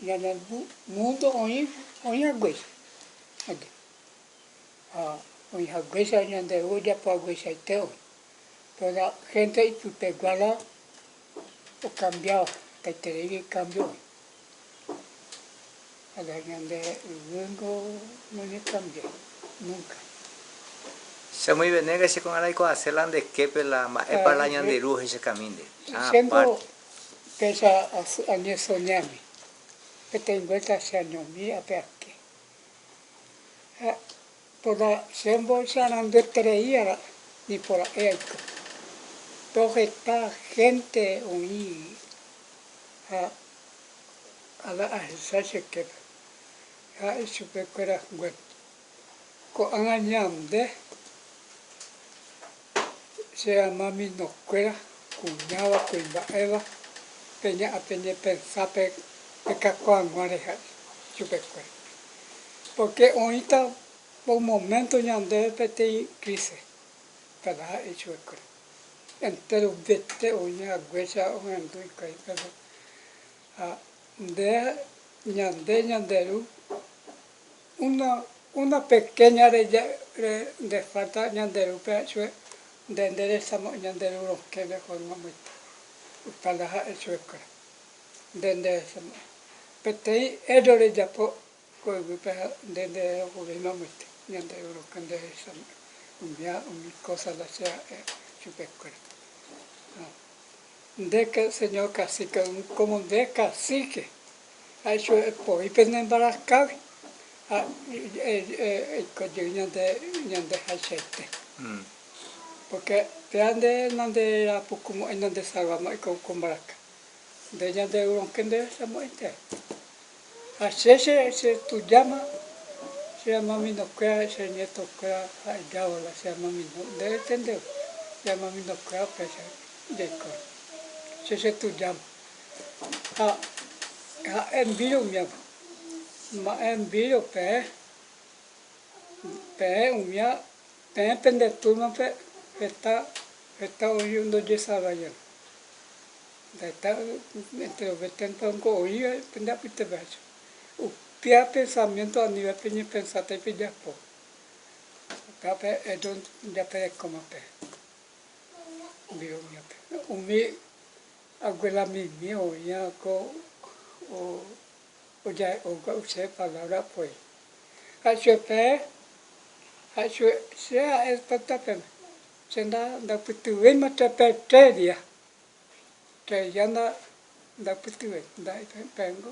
Ñane múndo oĩ haguéichante. Ha oĩ haguéicha ñande ru ojapo hagueichaite oĩ. Toda hénte ipypeguála okambiáva, hetaitereígui ikámbio oĩ. Kána ñande yvýngo noñekambiái núnka. Cheamoĩ Venéga, che ko'ág̃a raikuaase la nde képe la mba'épa la ñande ru ohechakamínte. Apárte. Péicha añesoñáme, peteĩ vuélta cheañomi ape ake. Ha toda chémbo chearanduetereíva nipora'e aiko. Too heta hénte oĩ ha ala ahecha che képe, ha ichupekuéra guépe. Ko'ág̃a ñande che rama mino kuéra, kuñáva, kuimba'éva, pe ña a pe ñepensa pe kakuaag̃ua re ja'e chupe kuéra. Porque oĩta un momento ñandéve peteĩ crise, tada ja'e chupe kuéra. Entéro vete oĩ haguéicha ohendu hikuái pépe. Ha nde, ñande ñande ru. Una, una pequeña re, nde falta ñande ru pe ha'echue, nde nde resamo'e ñande ru rokẽ nde forma moita, opa la ha'e chue kuéra, nde nde resamo'e. Peteĩ erro rejapo ko yvy pe ha nde nde reokurirma moite ñande ru rokẽ nde resamo'e, umi ha umi cosa la che ha'e chupe kuéra. Ha nde Señor cacique, como nde cacique. Aisy voi pene mbaraskágui ha eiko jey ñandehaichaite. Pórke péva nde nanderapukumo'ãi nandesalvamo'ãi ko mbaraka, nde ñanderurõke nderesamo'ãi térã. Ha che chetujáma che amaminokuéra, che ñetokuéra ha ejávola che amamino, nde retendeve che amaminokuéra péicha jaikóva, che chetujáma. ha ha'e mbíro umiápe. Ma'ẽ mbíro peẽ, peẽ umia, peẽ pende túrmape heta, heta oĩva ndojesarraiáva. Heta entre los veténta niko oĩva pende apytépehacho. Upéva pensamiénto anive peñepensáta y pejapo. Upévape ellos japerekóma peẽ mbíro umiápe. Umi Hague la mimi oĩva ko oja'e'ógua use palabra poi. Ha'echupe pe, ha'echupe, che ha'e tata peme, che nda ndapytyvéima che pe tre dia, tre dia nda ndapytyvéima, nda'e pempengo.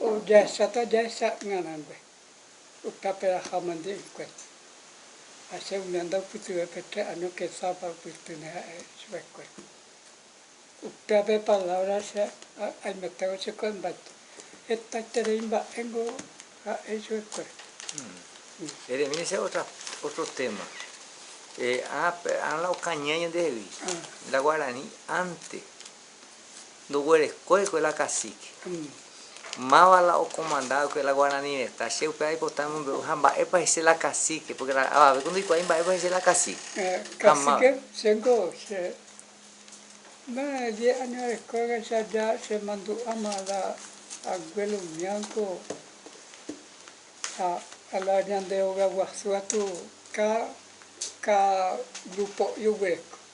Ojahesáta jahesa'ỹarangue ykaperaha mante ykuépe, ha che umi anda upytyve pe tre año kesápa opytýne ha'e chupekue. Upéva pe palávra che aimetévo che ko'ẽ mbaite, hetaiterei mba'éngo ha'e chupekuéra. Eremína che ótra, ótro téma. Ápe ára la okañýa ñandehegui, la guarani ánte. ndoguerekóikuri la kasíke. Máva la okomandákuri la guarani retã, che upéva aipota amombe'u ha mba'épa he'ise la kasíke, pórke la avavéko ndoikuaái mba'épa he'ise la kasíke. Kasíke, chéngo che die áño arekoichagua ja chemandu'áma la aguélo Ñanco ha la ñande hogaguasu gatu, káda grupo oguereko.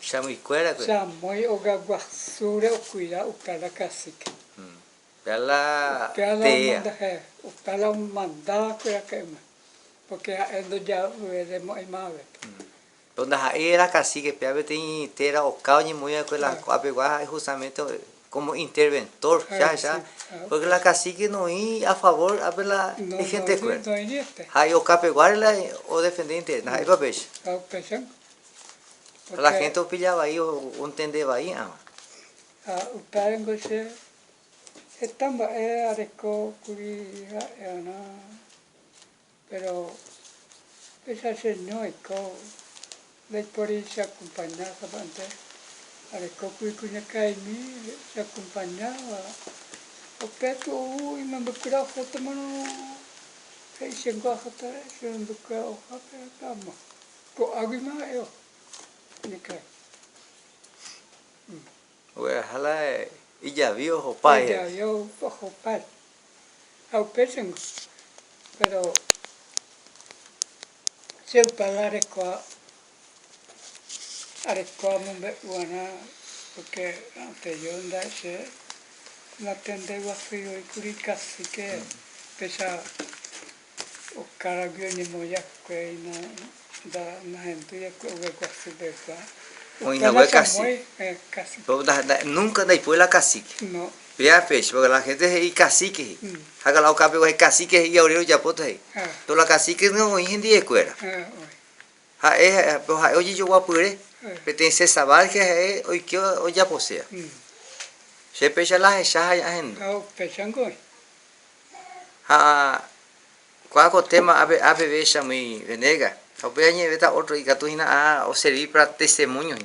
Chamoykuérakue. Chamoy ogaguasúre okuira uka la kasíke. Upéa la tea. Upéa la omandáva kuéra ka'yma, pórke ha'e ndoja'uvéde mo'ãi mávete. Péro ndaha'éi era kasíke, péa peteĩ téra oka oñemoĩ va'ekue la ko'apegua ha'e hustamente kómo interventór hecha, pórke la kasíke noĩ afavór ápe la ihentekuéra. Ha'e okapeguáre la odefende interés. Ndaha'éipa upéicha. La hénte opilla vai ontende vaí'arõ. Ha upévango che heta mba'e areko kuri ha'e'arã, péro péicha cheño eiko ndaipóri cheakompaña sapa'ente. Areko kuri kuñakaimi cheakompañáva, upe piko ou imembykuéra ohotamarõ he'i chéngo aháta che membykuéra ohápe pe ama. Ko'águi ma'e'o. Nekái. Ogueraha la ijavi ohopái. Ijavi ohopái. Ha upéicha ningo. Péro che'upa la rekua, arekua amombe'u va'erã, pórke anteriór nda'e che natende guasúi oĩ kuri ikasike péicha. Okaragui oñemoĩakuéina nda nahendúi oiko ogue guasu pegua. Oĩna ogue cacique. Nunca ndaipóri la cacique. Péa péicha porque la gente he'i cacique he'i. Hága la oka pegua he'i cacique he'i aorero ojapóta he'i. Pero la cacique nde oĩ hendie kuéra. Ha'e pero ha'e ojejoguapyre peteĩ César Vázquez ha'e oike ojaposéva. Che péicha la ahecha ha ahendu. Péicha nde oĩ. Ha kuaa ko téma ape ape vécha muy Venegas. Ha upéi añe'ẽvéta ótro ikatu hína a oservi para testemóño hína.